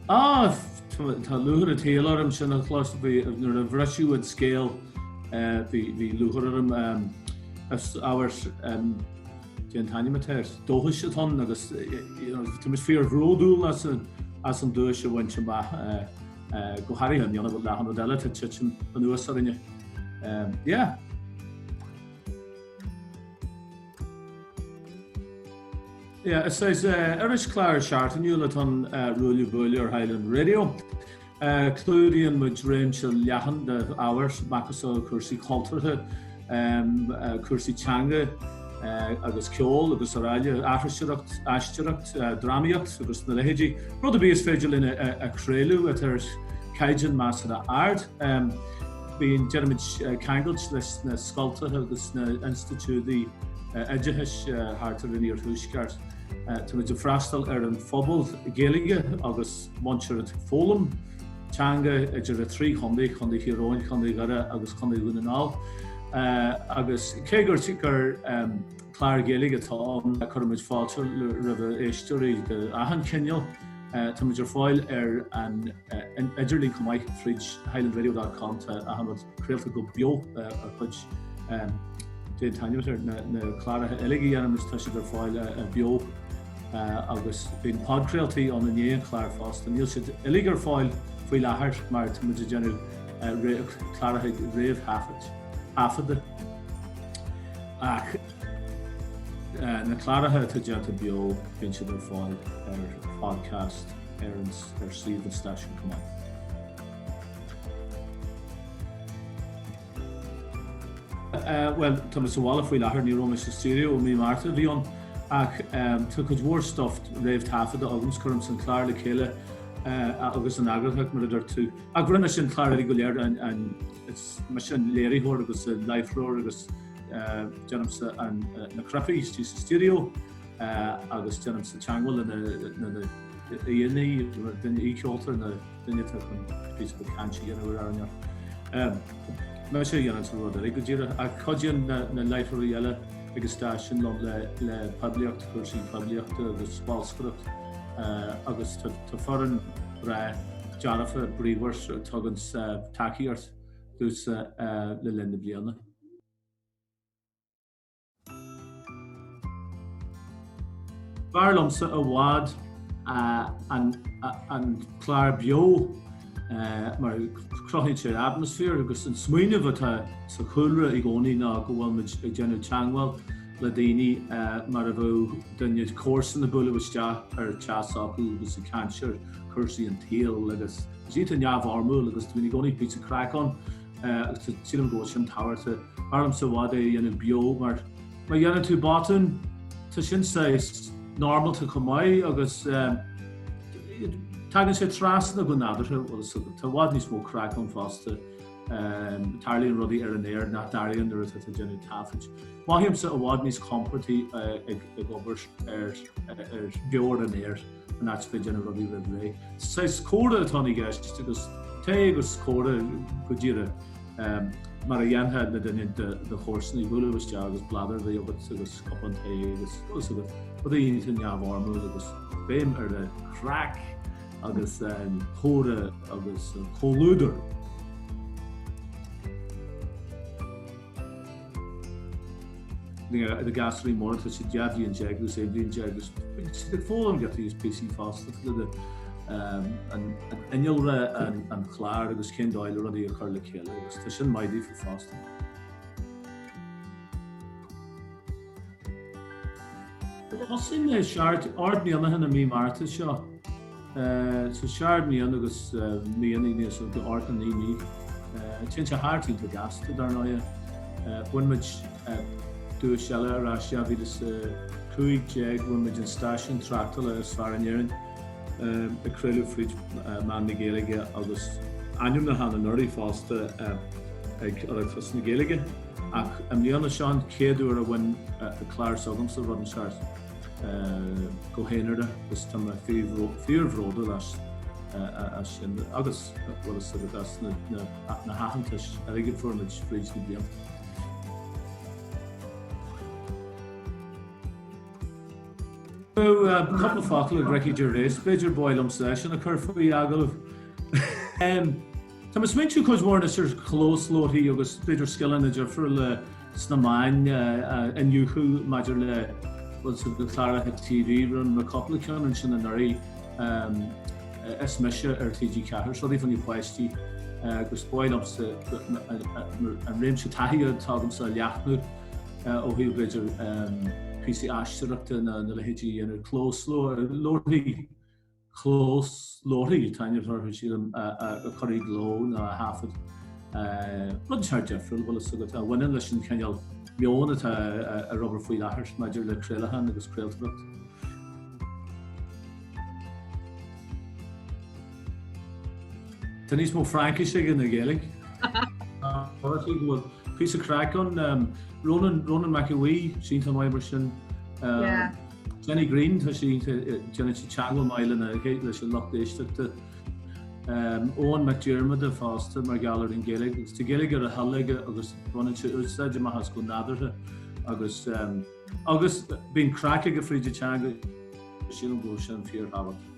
Ah! Tá lúcháir as cuimse orm sin a chlos bhí nuair a briseadh an scéal eh bhí lúcháir orm eh is iontas eh Dé Tainm atá air. Dóchas atá ann agus táimid fíor bhródúil as an duais a bhaint amach go háirithe i ndiaidh achan rud eile atá titim anuas orainn. Yeah. Yeah, is irischlár seachtainiúil atá ann, Ruaille Buaille ar Highland Radio. Clúdaíonn muid réimse leathan d'ábhair, macasamhail cúrsaí cultúrtha, cúrsaí teanga agus ceol srl, aithriseoireacht, aisteoireacht, drámaíocht agus na leithéidí, rud ar bith is féidir linn a chraoladh atá ar chaighdeán measartha ard. Bíonn, déanaimid ceangailt leis na scoilteacha agus na institiúidí oideachais thart ar an Iarthuaisceart. Táimid ag freastal ar an phobal Gaeilge agus. Muintir atá ag foghlaim teanga idir a trí chontae, Contae Thír Eoghain, Contae Dhoire agus Contae Dhún na nGall. Agus cé gur clár Gaeilge atá ann cuirimid fáilte roimh a éisteoirí d'achan chineál, táimid ar fáil ar an idirlíon chomh maith fríd highlandradio.com, tá achan rud. craolta go beo a chuid déantar na cláraithe uilig a dhéanamh is tá siad ar fáil beo agus bíonn podcraoltaí ann i ndiaidh an chláir fosta. Níl siad uilig ar fáil faoi láthair mar tá muid ag déanamh cláraithe réamhthaifeadta ach na cláraithe atá déanta beo bíonn siad ar fáil ar podcast ar suíomh an stáisiúin chomh maith. Bhuel, tá mé sa bhaile faoi láthair, ní raibh mé sa stiúideo ó mí Márta a bhí ann, ach tá cuid mhór stuif réamhthaifeadta agam is cuirim an clár le chéile agus an eagarthóireacht mar a dúirt tú. Ach rinne mise an clár uilig go léir and is mise an léiritheoir agus an láithreoir agus déanaimse na cnaipí istigh sa stiúideo agus déanaimse teagmháil leis na haíonna, duine aoicheolta, Duine atá chun píosa beag cainte a dhéanamh ar maidin amárach. Mise a dhéanann achan rud eile go díreach ach cuidíonn na láithreoirí eile ag an stáisiún liom le poiblíocht, cúrsaí poiblíochta agus bolscaireacht agus tá foireann breá dearfach bríomhar a tugann tacaíocht domhsa le linn na bliana. B'fhearr liomsa i bhfad an clár beo mar cruthaíonn sé atmaisféar agus an smaoineamh atá sa chúlra i gcónaí nó go bhfuil muid ag déanamh teagmháil le daoine mar a bheadh duine comharsan ag bualadh isteach ar teach s'acu agus ag caint ar chúrsaí an tsaoil agus tá sé iontach neamhfhoirmiúil agus bíonn i gcónaí píosa craic ann. Agus sílim go bhfuil sin tábhachtach. B'fhearr liomsa i bhfad é a dhéanamh beo mar má dhéanann tú botún tá sin saghas normálta chomh maith agus tagann sé trasna go nádúrtha bhfuil a fhios agat. Tá i bhfad níos mó craic ann fosta. Tarlaíonn rudaí ar an aer nach dtarlaíonn nuair atá tú ag déanamh taifid. Mothaímse i bhfad níos compordaí ag obair ar beo ar an aer. in áit bheith ag déanamh rudaí roimh ré. Saghas comhrá atá i gceist agus tae agus comhrá go díreach mar a dhéanfá le duine de do chomharsanaí, bualadh isteach agus bladar a bheith agat agus cupán tae agus tá a fhios agat, rudaí iontach neamhfhoirmiúil agus béim ar an chraic agus an comhrá agus an comhluadar. Na girseachaí mar tá siad dhá bhliain déag agus aon bhliain déag agus bíonn siad ag foghlaim giotaí is píosaí fosta fríd innealra an chláir agus cén dóigh le rudaí a chur le chéile agus tá sin maith daofa fosta. Thosaigh mé ar Ard Mhic Giolla Aoine i mí Márta seo. Sa Seard Mion agus Mion Aoine is ionta Ard na nDaoine. Téann sé thart iontach gasta dar ndóighe. Bhain muid duais eile ar ais 2015 bhain muid an stáisiún tráchtála is fearr in Éirinn a craoladh fríd mheán na Gaeilge agus ainmniúchán anuraidh fosta ag Oireachtas na Gaeilge. Ach i mbliana seo an chéad uair a bhain clár s'agamsa rud inteacht go haonaire agus tá mé fíorbhródúil as sin agus bhfuil a fhios agat as na haitheantais uilig a fuair muid fríd na blianta. Bheadh cupla focal ag Ricky Gervais b'fhéidir ba bhreá liomsa é sin a chur faoi agallamh. Tá mé ag smaointiú cuid mhór anois ar chlósluaithe agus b'fhéidir scileanna difriúla sna meáin a iniúchadh maidir le bhfuil a fhios agat cláracha TV rinne mé cúpla ceann ansin anuraidh is mise ar TG4 seó daofa na páistí agus ba bhreá liomsa an réimse taithí atá agamsa a leathnú ó thaobh b'fhéidir píosaí aisteoireachta nó a leithéidí a dhéanamh ar clósluaithe. glór na ndaoine atá inniu orthu sílim a chur i gcló nó a thaifead. Rud iontach difriúil a bhfuil fhios agat a bhaineann leis an chineál meoin atá ag obair faoi láthair maidir le craolacháin agus craoltóireacht. Tá níos mó Fraincis aige ná Gaeilge. Áitíonn go bhfuil píosa craic ann. Rónán Rónán Mac Aodha, 's iontach maith mar sin. Jenny Greene, tá sí iontach, déanann sí teagmháil maith lena chéile, leis an lucht éisteachta. Eoghan Mac Diarmada fosta mar gheall ar an Ghaeilge, agus tá Gaeilge ar a thoil aige agus baineann sé úsáid amach as go nádúrtha agus agus bíonn craic aige fríd an teanga, sílim go bhfuil sin fíorthábhachtach.